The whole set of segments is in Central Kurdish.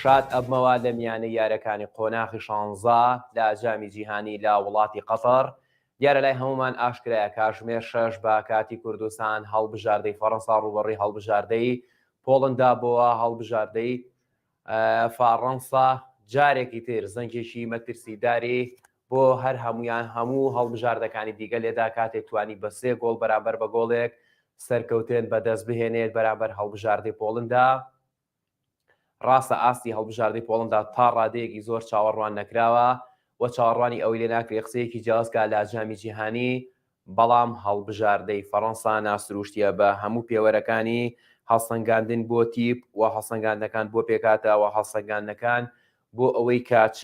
شاد ئەبمەوە لە میانەی یارەکانی قۆناخی شانزە لە جامی جیهانی لە وڵاتی قەتەڕ، دیارە لای هەموومان ئاشکرایە کاژمێر شەش بە کاتی کوردستان هەڵبژاردەی فەڕەنسا ڕووبەڕووی هەڵبژاردەی پۆڵندا بۆوە، هەڵبژاردەی فەڕەنسا جارێکی تر زەنگێکی مەترسیداری بۆ هەر هەمویان هەموو هەڵبژاردەکانی دیگە لێدا کاتێک توانی بە سێ گۆڵ بەرامبەر بە گۆڵێک سەرکەوتن بەدەست بهێنێت بەرامبەر هەڵبژاردەی پۆڵندا، ڕاستە ئاستی هەڵبژاردەی پۆڵەندا تا ڕادەیەکی زۆر چاوەڕوان نەکراوە و چاوەڕوانی ئەوەی لێ ناکرێت قسەیەکی جیاواز بکات لە جامی جیهانی، بەڵام هەڵبژاردەی فەرەنسا ناسرووشتییە بە هەموو پێوەرەکانی، هەڵسەنگاندن بۆ تیپ و هەڵسەنگاندنەکان بۆ پێکهاتە و هەڵسەنگاندنەکان بۆ ئەوەی کە چ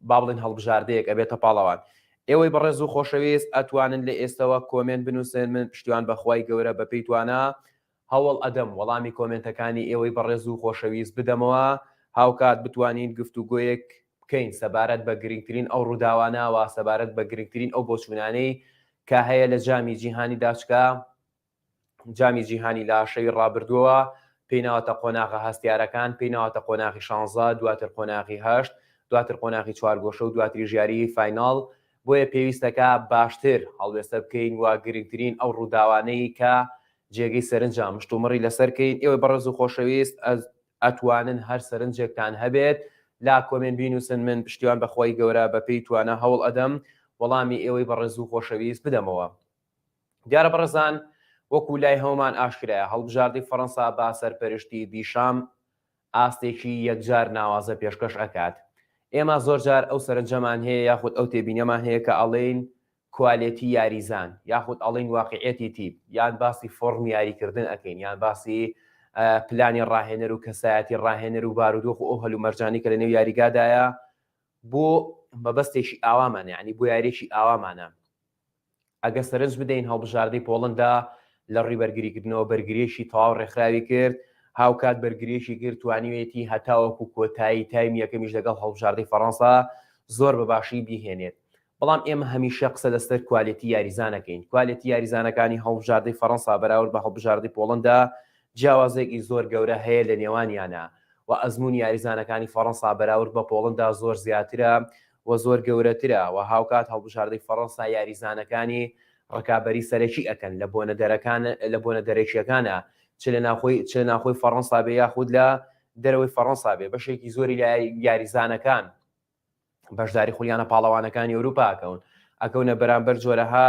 با بڵێن هەڵبژاردەیەک ئەبێتە پاڵەوان. ئێوەی بەڕێز و خۆشەویست ئەتوانن لە ئێستەوە کۆمێنت بنووسن، من پشتیوان بەخوای گەورە بەپێی توانا هەوڵ ئەدەم وەڵامی کۆمێنتەکانی ئێوەی بەڕێز و خۆشەویست بدەمەوە، هاوکات بتوانین گفتوگۆیەک بکەین سەبارەت بە گرنگترین ئەو ڕووداوانە و سەبارەت بە گرنگترین ئەو بۆچوونانەی کە هەیە لە جامی جیهانی داچکە، جامی جیهانی لە شەوی ڕابردووەوە پێی ناوەتە قۆناغە هەستیارەکان، پێی ناوەتە قۆناغی شانزە، دواتر قۆناغی هەشت، دواتر قۆناغی چوارگۆشە و دواتریش یاریی فایناڵ، بۆیە پێویستە کە باشتر هەڵوێستە بکەین و گرنگترین ئەو ڕووداوانەی کە جێگەی سەرنجە مشتومڕی لەسەر کەین. ئێوەی بەڕێز و خۆشەویست ئەتوانن هەر سەرنجێکتان هەبێت لا کۆمێنت بینووسن من پشتیوان بە خوای گەورە بە پێی توانا هەوڵ ئەدەم وەڵامی ئێوەی بەڕێز و خۆشەویست بدەمەوە. دیارە بەڕێزان وەکو لای هەموومان ئاشکرایە هەڵبژاردەی فەڕەنسا با سەرپەرشتی دیشام ئاستێکی یەکجار ناوازە پێشکەش ئەکات. ئێمە زۆرجار ئەو سەرنجەمان هەیە یاخود ئەو تێبینەمان هەیە کە ئەڵێین کوالێتی یاریزان یاخود ئەڵێین واقیعیەتی تیپ یان باسی فۆڕمی یاریکردن ئەکەین یان باسی پلانی ڕاهێنەر و کەسایەتی ڕاهێنەر و بارودۆخ و ئەو هەلو مەرجانی کە لە نێو یاریگادایە بۆ مەبەستێکی ئاوامانە ینی بۆ یاریێکی ئاوامانە ئەگە سەرنج بدەین هەڵبژاردەی پۆڵندا لە ڕووی بەرگریکردنەوە بەرگریێکی تەواو ڕێکخراوی کرد هاوکات بەرگریێکی کرد توانیوێتی هەتاوەکو کۆتایی تایم یەکەمیش لەگەڵ هەڵبژاردەی فەڕەنسا زۆر بە باشی بیهێنێت بەڵام ئێمە هەمیشە قسە لەسەر کوالێتی یاریزان ئەکەین، کوالێتی یاریزانەکانی هەڵبژاردەی فەرەنسا بەراورد بە هەڵبژاردەی پۆڵەندا جیاوازییەکی زۆر گەورە هەیە لە نێوانیانا و ئەزموونی یاریزانەکانی فەرەنسا بەراورد بە پۆڵەندا زۆر زیاترە و زۆر گەورەترە و هاوکات هەڵبژاردەی فەرەنسا یاریزانەکانی ڕکابەری سەرەکی ئەکەن لە بۆنە دەرەکان لە بۆنە دەرەکییەکانا چ لە ناوخۆی چ لە ناوخۆی فەرەنسا بێ یاخود لە دەرەوەی فەرەنسا بێ بەشێکی زۆری لە یاریزانەکان بەشداری خولیانە پاڵەوانەکانی ئەوروپا ئەکەون ئەکەونە بەرامبەر جۆرەها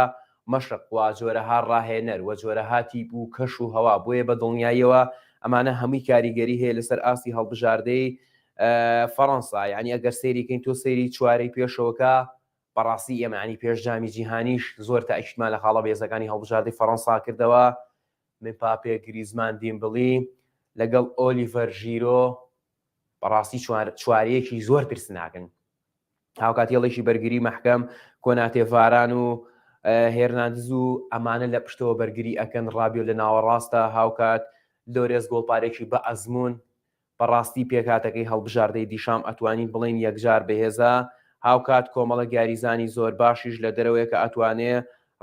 مەشق و جۆرەها ڕاهێنەر و جۆرەها تیپ و کەش و هەوا بۆیە بە دڵنیاییەوە ئەمانە هەمووی کاریگەری هەیە لەسەر ئاستی هەڵبژاردەی فەڕەنسا یعنی ئەگەر سەیریکەین تۆ سەیری چوارەی پێشەوەکە بەڕاستی ئێمەانی پێش جامی جیهانیش زۆر تا ئەشتمان لە خاڵە بێزەکانی هەڵبژاردەی فەڕەنسا کردەوە من پاپێ گریزمان دیمبڵی لەگەڵ ئۆلیڤەر ژیرۆ بەڕاستی چوارەیەکی زۆر ترسناکن هاوکات هێڵێکی بەرگری مەحکەم کۆناتێ ڤاران و هێرناندز و ئەمانە لە پشتەوە بەرگری ئەکەن ڕابیۆ لە ناوەڕاستە هاوکات لۆرێز گۆڵپارێکی بە ئەزمون بەڕاستی پێکاتەکەی هەڵبژاردەی دیشام ئەتوانین بڵین یەکجار بەهێزە هاوکات کۆمەڵە گاریزانی زۆر باشیش لە دەرەوەی کە ئەتوانێ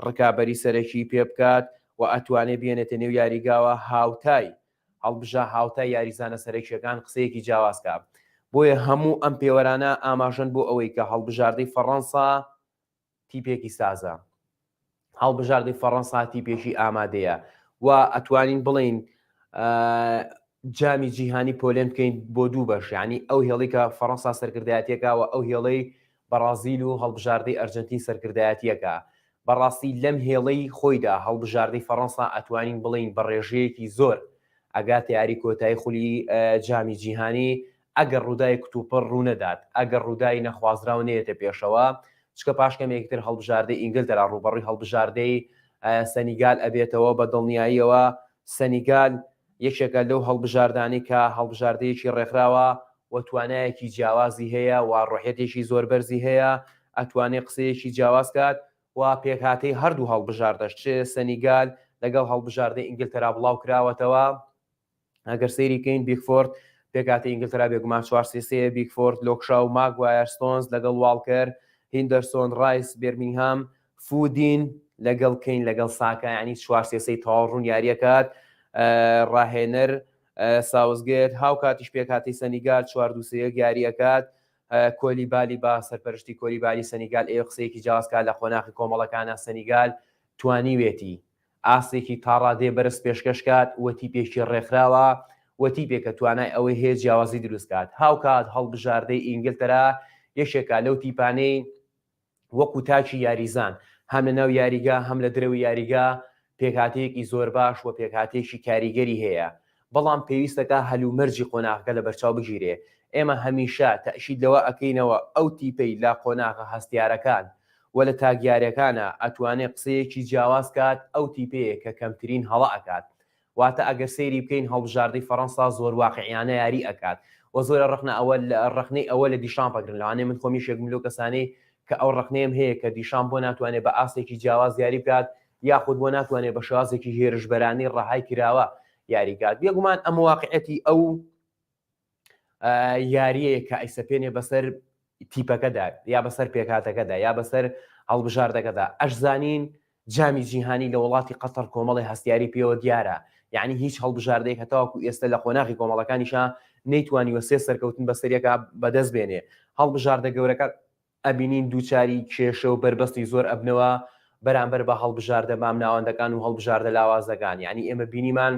ڕکابەری سەرەکی پێ بکات و ئەتوانێ بێنێتە نێو یاریگاوە هاوتای هەڵبژە هاوتای یاریزانە سەرەکییەکان قسەیەکی جیاواز کا. بۆیە هەموو ئەم پێوەرانە ئاماژەن بۆ ئەوەی کە هەڵبژاردەی فەڕەنسا تیپێکی سازە. هەڵبژاردەی فەڕەنسا تیپێکی ئامادەیە و ئەتوانین بڵین جامی جیهانی پۆلێن بکەین بۆ دوو بەش ینی ئەو هێڵی کە فەڕەنسا سەرکردایەتەکەوە ئەو هێڵەی بەڕازیل و هەڵبژاردەی ئەرجەنتین سەرکردایەتییەکە، بەڕاستی لەم هێڵەی خۆیدا هەڵبژاردەی فەڕەنسا ئەتوانین بڵێین بە ڕێژەیەکی زۆر ئەگاتە یاری کۆتایی خولی جامی جیهانی ئەگەر ڕووداوی کتوپڕ ڕوونەدات، ئەگەر ڕووداوی نەخوازراو نەیەتە پێشەوە، چکە پاش کەمێکی تر هەڵبژاردەی ئینگلتەرا ڕووبەڕووی هەڵبژاردەی سەنیگال ئەبێتەوە بە دڵنیاییەوە سەنیگال یەکێکە لەو هەڵبژاردانەی کە هەڵبژاردەیەکی ڕێکخراوە و توانایەکی جیاوازی هەیە و ڕۆحیەتێکی زۆر بەرزی هەیە، ئەتوانێ قسەیەکی جیاواز کات و پێکهاتەی هەردوو هەڵبژاردەش چ سەنیگال لەگەڵ هەڵبژاردەی ئینگلتەرا بڵاوکراوەتەوە، ئەگەر سەیری کەین بیکفۆرد پێکهاتەی ئینگلتەرا بێگومان چوار سێ سێ یە، بیکفۆرد، لۆکشاو، ماگوایەر، ستۆنز لەگەڵ واڵکەر، هیندەرسۆن، ڕایس، بێرمینگهام، فودین لەگەڵ کەین لەگەڵ ساکا یانی چوار سێ سەی تەواو ڕوون یاریەکات ڕاهێنەر ساوزگێت هاوکاتیش پێکاتی سەنیگال چوار دووسەیەک یاریەکات کۆلی بالی با سەرپەرشتی کۆلی بالی سەنیگال ئێ قسەیەکی جیازکات لە قۆناخی کۆمەڵەکانە سەنیگال توانیوێتی ئاستێکی تاڕادێ بەرز پێشکەش کات وەتی پێشی ڕێکخراوە وەتی پێکە توانای ئەوەی هەیە جیاوازی دروستکات هاوکات هەڵبژاردەی ئینگلتەرا یەکێکە لەو تیپانەی وەکو تاکی یاریزان، هەم لە ناو یاریگا هەم لە درەوی یاریگا پێکهاتەیەکی زۆر باش و پێکهاتەیەکی کاریگەری هەیە، بەڵام پێویستەکا هەلومەرجی قۆناغەکە لەبەرچاو بگیرێ، ئێمە هەمیشە تەئکید لەوە ئەکەینەوە ئەو تیپەی لە قۆناغە هەستیارەکان و لە تاکیارەکانا ئەتوانێ قسەیەکی جیاواز کات ئەو تیپەیە کە کەمترین هەڵە ئەکات واتە ئەگەر سەیری بکەین هەڵبژاردەی فەرەنسا زۆر واقعیانە یاری ئەکات وە زۆرە ڕەخنە ئەوە ڕەخنەی ئەوە لە دیشامپ ئەگرن لەوانەیە من خۆمیش یەکبم لەو کەسانەی کە ئەو ڕەخنەیەم هەیە کە دیشامپ بۆ ناتوانێت بە ئاستێکی جیاواز یاری بکات یاخود بۆ ناتوانێت بە شێوازێکی هێرشبەرانەی ڕەهای کراوە یاری بکات بێگومان ئەمە واقعیەتی ئەو یاریەیە کە ئەیسەپێنێ بەسەر تیپەکەدا یا بەسەر پێکاتەکەدا یا بەسەر هەڵبژاردەکەدا ئەش زانین جامی جیهانی لە وڵاتی قەتەر کۆمەڵی هەستیاری پێوە دیارە یعنی هیچ هەڵبژاردەیە کە تاواکو ئێستا لە قۆناغی کۆمەڵەکانیشە نەیتوانیوە سێ سەرکەوتن بەسەرەکە بەدەست بێنێ هەڵبژاردە گەورەکە ئەبینین دووچاری کێشە و بەربەستی زۆر ئەبنەوە بەرامبەر بە هەڵبژاردە مامناوەندەکان و هەڵبژاردە لاوازەکان یانی ئێمە بینیمان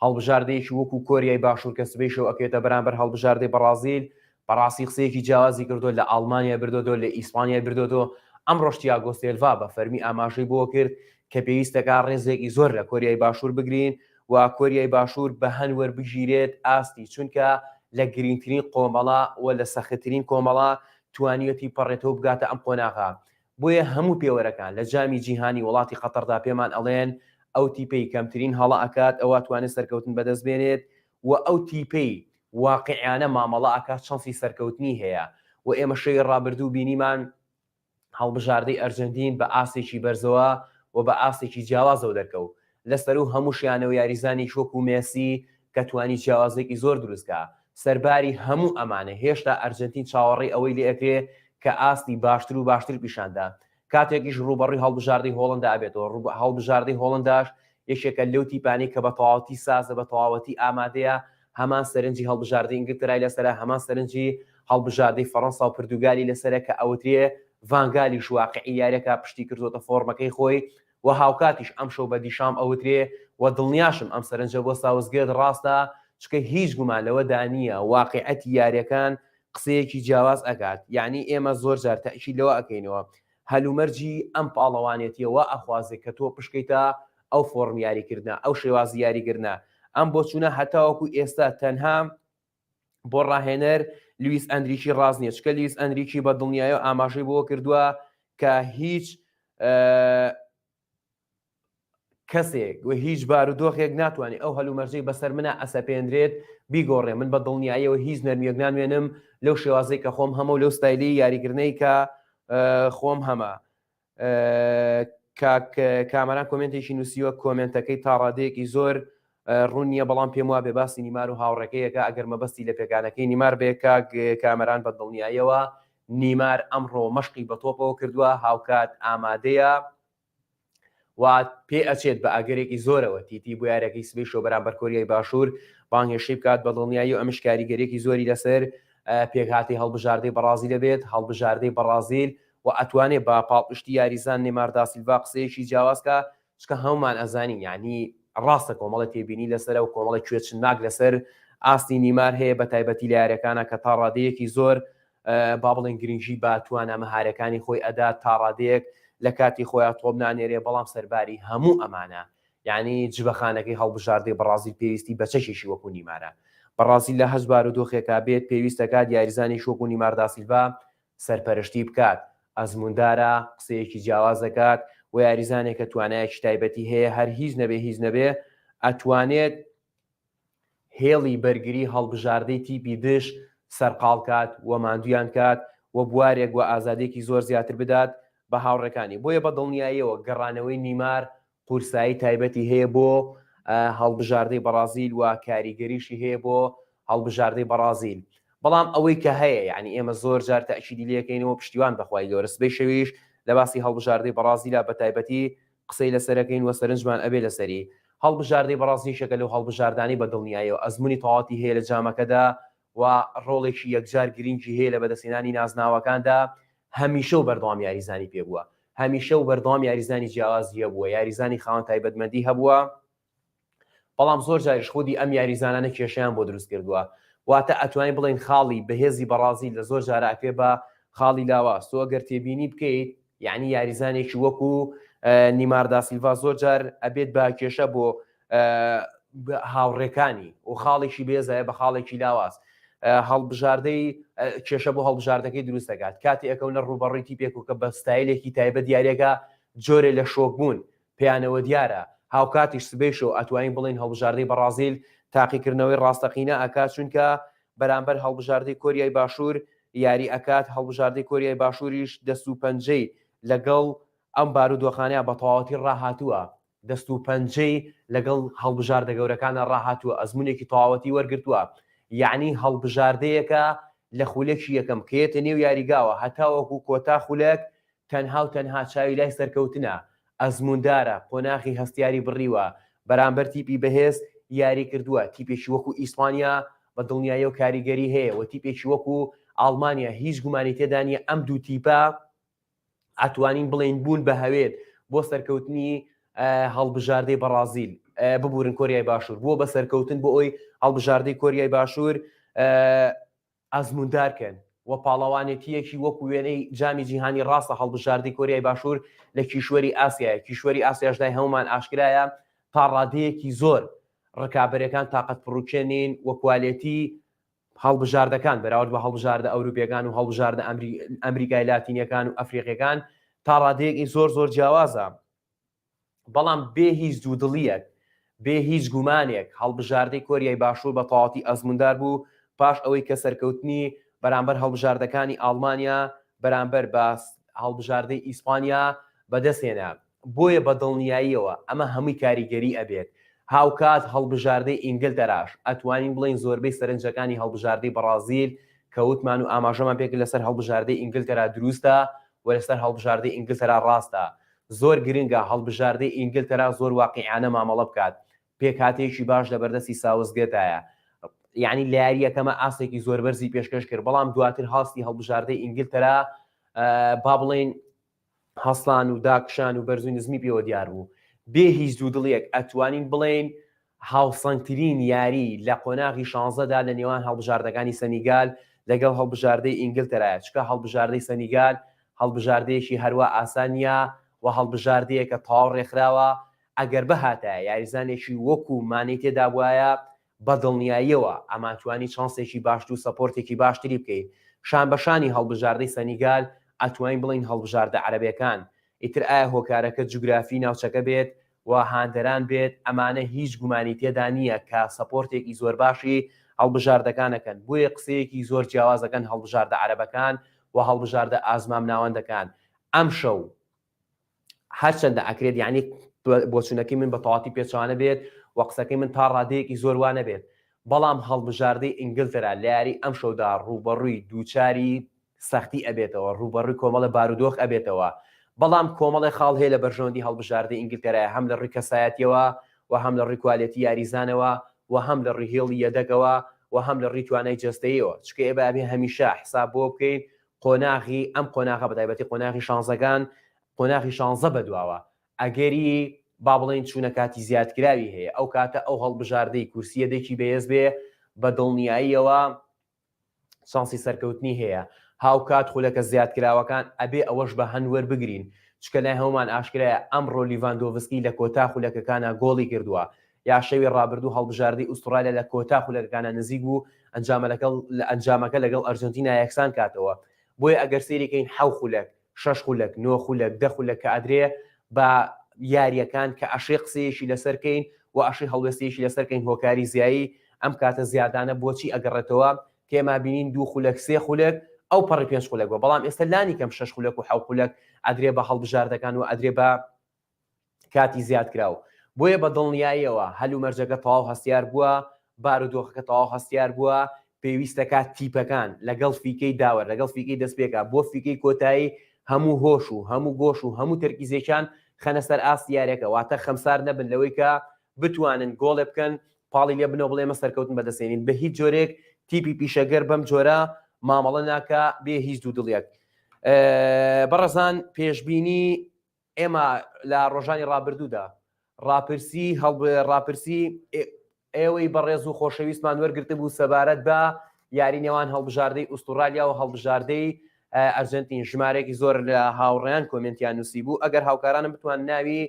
هەڵبژاردەیەکی وەکو کۆریای باشوور کە سبەی شەو ئەکرێتە بەرامبەر هەڵبژاردەی بەڕازیل بەڕاستی قسەیەکی جیاوازی کردو لە ئاڵمانیا بردۆتەوە لە ئیسپانیای بردۆتەوە ئەمڕۆش تیاگۆ سێلڤا بە فەرمی ئاماژەی بەوە کرد کە پێویستەکا ڕێزێکی زۆر لە کۆریای باشوور بگرین و کۆریای باشور بەهەن وەربگیرێت ئاستی چونکە لە گرینگترین قۆمەڵە و لە سەختترین کۆمەڵە توانیوەتی پەڕێتەوە بگاتە ئەم قۆناغە بۆیە هەموو پێوەرەکان لە جامی جیهانی وڵاتی قەتەڕدا پێمان ئەڵێن ئەو تیپەی کەمترین هەڵە ئەکات ئەوا توانێت سەرکەوتن بەدەست بێنێت و ئەو تیپەی واقعیانە مامەڵە ئەکات چەنسی سەرکەوتنی هەیە و ئێمە شەوی ڕابردوو بینیمان هەڵبژاردەی ئەرجەنتین بە ئاستێکی بەرزەوە و بە ئاستێکی جیاوازەوە دەرکەوت، لە سەروو هەمووشیانەوە یاریزانێکی وەکو مێسی کە توانی جیاوازییەکی زۆر دروست کا، سەرباری هەموو ئەمانە هێشتا ئەرجەنتین چاوەڕێی ئەوەی لێ ئەکرێ کە ئاستی باشتر و باشتر پیشان دا کاتێکیش رووبەڕووی هەڵبژاردەی هۆڵەندا ئەبێتەوە، هەڵبژاردەی هۆڵەنداش یەکێکە لەو تیپانەی کە بە تەواوەتی سازە بە تەواوەتی ئامادەیە هەمان سەرنجی هەڵبژاردەی ئینگلتەرای لەسەرە، هەمان سەرنجی هەڵبژاردەی فەڕەنسا و پردوگالی لەسەرە کە ئەوترێ ڤان گالیش واقعی یاریەکە پشتی کردۆتە فۆڕمەکەی خۆی و هاوکاتیش ئەمشەو بە دیشام ئەوترێ و دڵنیاشم ئەم سەرنجە بۆ ساوسگێت ڕاستە چکە هیچ گومان لەوەدا نییە واقعەتی یاریەکان قسەیەکی جیاواز ئەکات یانی ئێمە زۆر جار تەئکید لەوە ئەکەینەوە هەلومەرجی ئەم پاڵەوانێتیە وا ئەخوازێ کە تۆ پشکەیتە ئەو فۆڕم یاریکردنە، ئەو شێوازی یاریکردنە. ئەم بۆچوونە هەتاوەکو ئێستا تەنها بۆ راهێنەر لویس ئەنریکی راست نیە، چکە لویس ئەنریکی بە دڵنیایەوە ئاماژەی بەوە کردووە کە هیچ کەسێک و هیچ بارودۆخێک ناتوانێت ئەو هەلومەرجەی بەسەر منە ئەسەپێنرێت بیگۆڕێ من بە دڵنیاییەوە هیچ نەرمیەک نانوێنم لەو شێوازەی کە خۆم هەمە و لەو ستایلی یاریکردنەی کە خۆم هەمە کامەران کۆمنتێکی نووسیوە کۆمنتەکەی تاڕادەیەکی زۆر ڕوون نییە بەڵام پێم وابێ باسی نیمار و هاوڕێکەیەکە ئەگەر مەبەستی لە پێکانەکەی نیمار بێ کاک کامەران بە دڵنیایەوە نیمار ئەمڕۆ مەشقی بە تۆپەوە کردووە هاوکات ئامادەیە و پێ ئەچێت بە ئاگەرێکی زۆرەوە تیتی بۆ یارەکەی سبەی شۆ بەرامبەر کۆریای باشوور بانگهێشتی بکات بە دڵنیایی و ئەمش کاریگەرێکی زۆری لەسەر پێکهاتی هەڵبژاردەی بەڕازی دەبێت هەڵبژاردەی بەڕازیل و ئەتوانێت بە پاڵپشتی یاریزان نێمارداسیلڤ قسەیەکی جیاوازکە چکە هەموومان ئەزانین یانی ڕاستە کۆمەڵی تێبینی لەسەرە و کۆمەڵی کوێچنناک لەسەر ئاستی نیمار هەیە بە تایبەتی لە یارەکانە کە تا ڕادەیەکی زۆر با بڵێن گرنگی با توانە مەهارەکانی خۆی ئەدا تا ڕادەیەک لە کاتی خۆیان تۆپ نانێرێ بەڵام سەرباری هەموو ئەمانە یعنی جبەخانەکەی هەڵبژاردەی بەڕازیل پێویستی بەچەشێکی وەکو نیمارە بەڕازیل لە هەزبار و دۆخێکا بێت پێویستەکات یاریزانی شۆک و نیمارداسیلڤ سەرپەرشتی بکات، ئەزمووندارە، قسەیەکی جیاواز دەکات، وە یاریزانێک کە توانایەکی تایبەتی هەیە هەر هیچ نەبێ هیچ نەبێ ئەتوانێت هێڵی بەرگری هەڵبژاردەی تیپی دژ سەرقاڵ کات و ماندوویان کات و بوارێک و ئازادیەکی زۆر زیاتر بدات بە هاوڕێکانی، بۆیە بە دڵنیاییەوە گەڕانەوەی نیمار قورسایی تایبەتی هەیە بۆ هەڵبژاردەی بەڕازیل و کاریگەریشی هەیە بۆ هەڵبژاردەی بەڕازیل بەڵام ئەوەی کە هەیە یعنی ئێمە زۆر جار تاکیدی لەکەینەوە پشتیوان بەخوای گەورە سبەی شەویش لە باسی هەڵبژاردەی بەڕازیلا بە تایبەتی قسەی لەسەرەکەین وە سەرنجمان ئەبێ لەسەری هەڵبژاردەی بەڕازیشەکە لەو هەڵبژاردانی بە دڵنیایەوە ئەزمموی تەواتی هەیە لە جامەکەدا و ڕۆڵێکی یەکجار گرنگی هەیە لە بەدەستهێنانی نازناوەکاندا، هەمیشە و بەردەوام یاریزانی پێ بووە، هەمیشە و بەردەوام یاریزانی جیاوازی هەبووە، یاریزانی خاوەن تایبەتمەندی هەبووە، بەڵام زۆر جاریش خودی ئەم یاریزانانە کێشەیان بۆ دروست کردووە، واتە ئەتوانین بڵێین خاڵی بەهێزی بەڕازیل لە زۆر جارە ئەکرێ بە خاڵی لاواز، تۆ گەر تێبینی بکەیت یانی یاریزانێکی وەکو نیمار داسیلڤا زۆر جار ئەبێت بە کێشە بۆ هاوڕێکانی و خاڵێکی بێزایە بە خاڵێکی لاواز هەڵبژاردەی کێشە بۆ هەڵبژاردەکەی دروست دەکات کاتی ئەکەونە ڕوبەڕیتی پێکو کە بە ستایلێکی تایبەت دیارەکە جۆرە لە شۆک بوون پێیانەوە دیارە هاوکاتیش سبەیشۆ ئەتوانین بڵین هەڵبژاردەی بەڕازیل تاقیکردنەوەی ڕاستەقینە ئەکا چونکە بەرامبەر هەڵبژاردەی کۆریای باشوور یاری ئەکات هەڵبژاردەی کۆریای باشووریش دەست و پەنجەی لەگەڵ ئەم بارودۆخانەیە بە تەواوەتی ڕاهاتووە دەست و پەنجەی لەگەڵ هەڵبژاردە گەورەکانا ڕاهاتووە، ئەزموونێکی تەواوەتی وەرگرتووە، یەعنی هەڵبژاردەیەکە لە خولەکی یەکەم کە یەتە نێو یاریگاوە هەتاوەکو کۆتا خولەک تەنها و تەنها چاوی لای سەرکەوتنە، ئەزمووندارە، قۆناغی هەستیاری بڕیوە، بەرامبەر تیپی بەهێز یاری کردووە، تیپێکی وەکو ئیسپانیا بە دڵنیایی و کاریگەری هەیە و تیپێکی وەکو ئاڵمانیا هیچ گومانی تێدا نییە ئەم دوو تیپە، ئەتوانین بڵێین بوون بە هەوێت بۆ سەرکەوتنی هەڵبژاردەی بەڕازیل ببورن کۆریای باشوور بووە بە سەرکەوتن بۆ ئەوی هەڵبژاردەی کۆریای باشوور ئازموندارکەن و پاڵەوانێتیەکی وەکو وێنەی جامی جیهانی ڕاستە هەڵبژاردی کۆریای باشوور لە کیشوەری ئاسیایە کیشوەری ئاسیاشدای هەمومان ئاشکرایە تا ڕادەیەکی زۆر ڕکابەرەکان تااقەت پڕوکێنین و کوالێتی هەڵبژاردەکان بەراورد بە هەڵبژاردە ئەوروپیەکان و هەڵبژاردە ئەمریکای لاتینیەکان و ئەفریقیەکان تا ڕادەیەکی زۆر زۆر جیاوازە بەڵام بێ هیچ دوو دڵیەک بێ هیچ گومانێک هەڵبژاردەی کۆریای باشوور بە تەواتی ئەزموندار بوو پاش ئەوەی کە سەرکەوتنی بەرامبەر هەڵبژاردەکانی ئاڵمانیا بەرامبەر بە هەڵبژاردەی ئیسپانیا بەدەستێنا بۆیە بە دڵنیاییەوە ئەمە هەمووی کاریگەری ئەبێت، هاوکات هەڵبژاردەی ئینگلتەراش ئەتوانین بڵێین زۆربەی سەرنجەکانی هەڵبژاردەی بەڕازیل کە وتمان و ئاماژەمان پێکرد لەسەر هەڵبژاردەی ئینگلتەرا دروستە و لەسەر هەڵبژاردەی ئینگلتەرا ڕاستە، زۆر گرنگە هەڵبژاردەی ئینگلتەرا زۆر واقیعانە مامەڵە بکات، پێکهاتەیەکی باش لەبەردەستی ساوسگێتایە، یانی لە یارییەکەمە ئاستێکی زۆر بەرزی پێشکەش کرد، بەڵام دواتر هاستی هەڵبژاردەی ئینگلتەرا با بڵێین هەستان و داکشان و بەرزو نزمی پێوە دیار بوو، بێ هیچ دوودڵیەک ئەتوانین بڵێین هاوسەنگترین یاری لە قۆناغی شانزدە دا لە نێوان هەڵبژاردەکانی سەنیگال لەگەڵ هەڵبژاردەی ئینگلتەرایە، چونکە هەڵبژاردەی سەنیگال هەڵبژاردەیەکی هەروا ئاسان نیە و هەڵبژاردەیەکە تەواو رێکخراوە، ئەگەر بهاتایە یاریزانێکی وەکو مانێی تێدابوایە بە دڵنیاییەوە ئەمانتوانی چانسێکی باشتر و سەپۆرتێکی باشتری بکەین، شان بە شانی هەڵبژاردەی سەنیگال ئەتوانین بڵێین هەڵبژاردە عەرەبەکان، ئیتر ئایا هۆکارەکە جوگرافی ناوچەکە بێت و هاندەران بێت ئەمانە هیچ گومانی تێدا نییە کە سەپۆرتێکی زۆر باشی هەڵبژاردەکان ئەکەن، بۆیە قسەیەکی زۆر جیاواز ئەکەن هەڵبژاردە عەرەبەکان و هەڵبژاردە ئازمامناوەندەکان ئەمشەو هەرچەندە ئەکرێت یعنی بۆچوونەکەی من بە تەواتی پێچوانە بێت و قسەکەی من تا ڕادەیەکی زۆر وانە بێت بەڵام هەڵبژاردەی ئینگلتەرا لە یاری ئەم شەودا ڕووبەڕووی دووچاری سەختی ئەبێتەوە ڕووبەڕووی کۆمەڵە بارودۆخ ئەبێتەوە بەڵام کۆمەڵی خاڵ هەیە لە بەرژەوەندی هەڵبژاردە ئینگلتەرای هەم لە ڕووی کەسایەتیەوە و هەم لە ڕیکوالێتی یاریزانەوە و هەم لە ڕیهێڵی یەدەگەوە و هەم لە ڕیتوانای جستەیەوە چکە ئێبابێ هەمیشە حساب بۆ بکەین قۆناغی ئەم قۆناغە بە تایبەتی قۆناغی شانزەکان قۆناغی شانزە بەدواوە ئەگەری با بڵێن چوونە کاتی زیادکراوی هەیە ئەو کاتە ئەو هەڵبژاردەی کورسیە دەکی بەهێز بێ بە دڵنیاییەوە شانسی سەرکەوتنی هەیە هاوکات خولەکە زیادکراوەکان ئەبێ ئەوەش بە هەند وەربگرین چکە لای هەومان ئاشکرایە ئەمڕۆ لیڤاندۆڤسکی لە کۆتا خولەکەکانە گۆڵی کردووە یا شەوی رابردوو هەڵبژاردەی ئوستڕالیا لە کۆتا خولەکەکانە نزیک بوو ئەنجامەکە لەگەڵ ئەرجەنتینا یەکسان کاتەوە، بۆیە ئەگەر سەیری کەین حەو خولەک، شەش خولەک، نۆ خولەک، دە خولەک کە ئەدرێ بە یارییەکان کە ئەشێ قسەیەکی لەسەر کەین و ئەشێ هەڵوێستەیەکی لەسەر کەین هۆکاری زیایی ئەم کاتە زیادانە بۆچی ئەگەڕێتەوە تێما بینین دوو خولەک، سێ خولەک ئەو پەڕی پێنج خولەک بووە بەڵام ئێستا لانی کەم شەش خولەک و حەو خولەک ئەدرێ بە هەڵبژاردەکان و ئەدرێ بە کاتی زیادکراو بۆیە بە دڵنیاییەوە هەلومەرجەکە تەواو هەستیار بووە بارودۆخەکە تەواو هەستیار بووە پێویستەکە تیپەکان لەگەڵ فیکەی داوەر لەگەڵ فیکەی دەستپێکا بۆ فیکەی کۆتایی هەموو هۆش و هەموو گۆش و هەموو تەرکیزێکیان خەنە سەر ئاست یاریەکە واتە خەمسار نەبن لەوەی کە بتوانن گۆڵێ بکەن پاڵی لێ بنەوە بڵێمە سەرکەوتن بەدەستێنین بە هیچ جۆرێک تیپی پیشەگەر بەم جۆرە مامەڵە ناکە بێ هیچ دوو دڵیەک بەڕزان پێشببینی ئێمە لە ڕۆژانی ڕابردوودا ڕاپرسی هەڵب ڕاپرسی ئێوەی بەڕێز و خۆشەویستمان وەرگرتبوو سەبارەت بە یاری نێوان هەڵبژاردەی ئوستورالیا و هەڵبژاردەی ئەرجنتین ژمارێکی زۆر لە هاوڕیان کۆمنتیان نووسی بوو ئەگەر هاوکارانم بتوان ناوی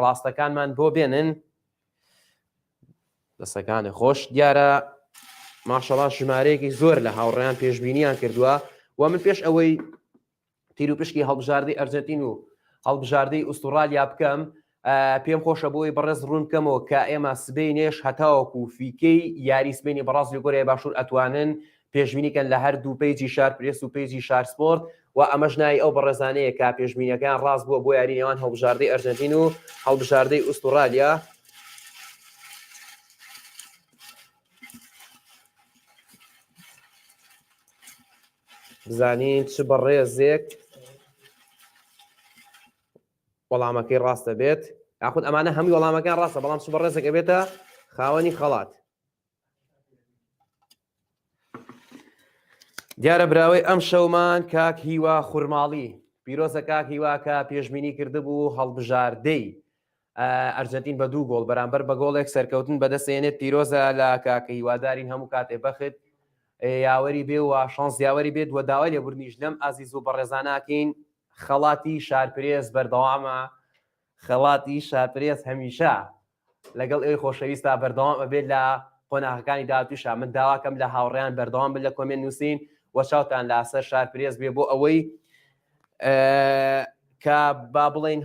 ڕاستەکانمان بۆ بێنن دەسەکانی خۆش دیارە ماشەڵا ژمارەیەکی زۆر لە هاوڕیان پێشببینیان کردووە و من پێش ئەوەی تیروپشکی هەڵبژاردەی ئەرجەنتین و هەڵبژاردەی ئوسترالیا بکەم پێم خۆشە بۆی بەڕێز ڕوون بکەمەوە کە ئێمە سبینێش هەتاوەکو فیکەی یاری سبینی بەڕاست لەگۆرەیە باشوور ئەتوانن پێشبینیکەن لە هەر دوو پیجی شار پرس و پیجی شار سپۆرت و ئەمەش نای ئەو بەڕێزانەیە کا پێشبینەکان ڕاست بووە بۆ یاری نێوان هەڵبژاردەی ئەرجنتین و هەڵبژاردەی ئوسترالیا بزانین چ بەڕێزێک وەڵامەکەی ڕاستە بێت یاخود ئەمانە هەمووی وەڵامەکان ڕاستە بەڵام چ بەڕێزێک ئەبێتە خاوەنی خەڵات دیارە براوەی ئەم شەومان کاک هیوا خورماڵی پیرۆزە کاک هیواکە پێشببینی کردبوو هەڵبژاردەی ئەرجەنتین بە دوو گۆڵ بەرامبەر بە گۆڵێک سەرکەوتن بەدەستێنێت پیرۆزە لە کاکە هیوادارین هەموو کاتێ بەخت یاوەری بێ و شانس یاوەری بێت و داوای لێبوردنیش لەم ئازیز و بەڕێزاناکەین خەڵاتی شارپرێز بەردەوامە خەڵاتی شاپرێز هەمیشە لەگەڵ ئەوی خۆشەویستا بەردەوام ئەبێت لە قۆناغەکانی دااتوشا من داواکەم لە هاوڕیان بەردەوام بن لە کۆمێن نووسین وە چاوتان لاسەر شارپرێز بێ بۆ ئەوەی کە با بڵین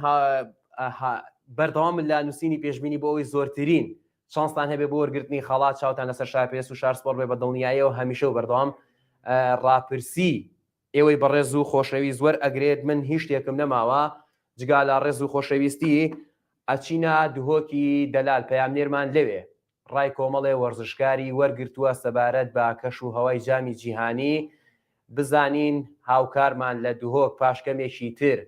بەردەوام لە نووسینی پێشببینی بۆ ئەوی زۆرترین شانستان هەبێ بۆ وەرگرتنی خەڵات چاوتان لەسەر شاپێس و شارسپۆر بێ بە دڵنیایەوە هەمیشە و بەردەوام ڕاپرسی ئێوەی بەڕێز و خۆشەوی زۆر ئەگرێت من هیچ شتێکم نەماوە جگا لە ڕێز و خۆشەویستی ئەچینە دهۆکی دەلال پەیام نێرمان لەوێ ڕای کۆمەڵێ وەرزشکاری وەرگرتووە سەبارەت بە کەش و هەوای جامی جیهانی، بزانین هاوکارمان لە دهۆک پاش کەمێکی تر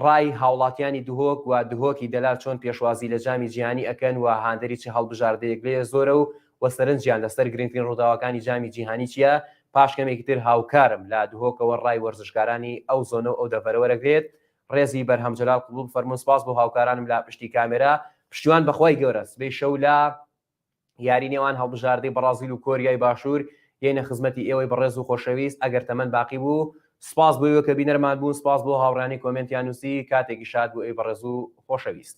ڕای هاوڵاتیانی دهۆک و دهۆکی دەلال چۆن پێشوازی لە جامی جیهانی ئەکەن و هاندەری چ هەڵبژاردەیەک لێ زۆرە و و سەرنجیان لەسەر گرنگترین ڕووداوەکانی جامی جیهانی چیە، پاش کەمێکی تر هاوکارم لە دهۆکەوە ڕای وەرزشکارانی ئەو زۆنە و ئەو دەڤەرە وەرەگرێت ڕێزی بەرهەم جەلال قبوڵ بفەرموون سپاس بۆ هاوکارانم لە پشتی کامێرا پشتیوان بەخوای گەورە سبەی شەو لە یاری نێوان هەڵبژاردەی بەڕازیل و کۆریای باشوور یەینە خزمەتی ئێوەی بەڕێز و خۆشەویست ئەگەر تەمەن باقی بوو سپاس بۆ ئێوە کە بینەرمان بوون سپاس بۆ هاوڕێیانی کۆمێنتیان نووسی کاتێکی شاد بۆ ئێوەی بەڕێز و خۆشەویست.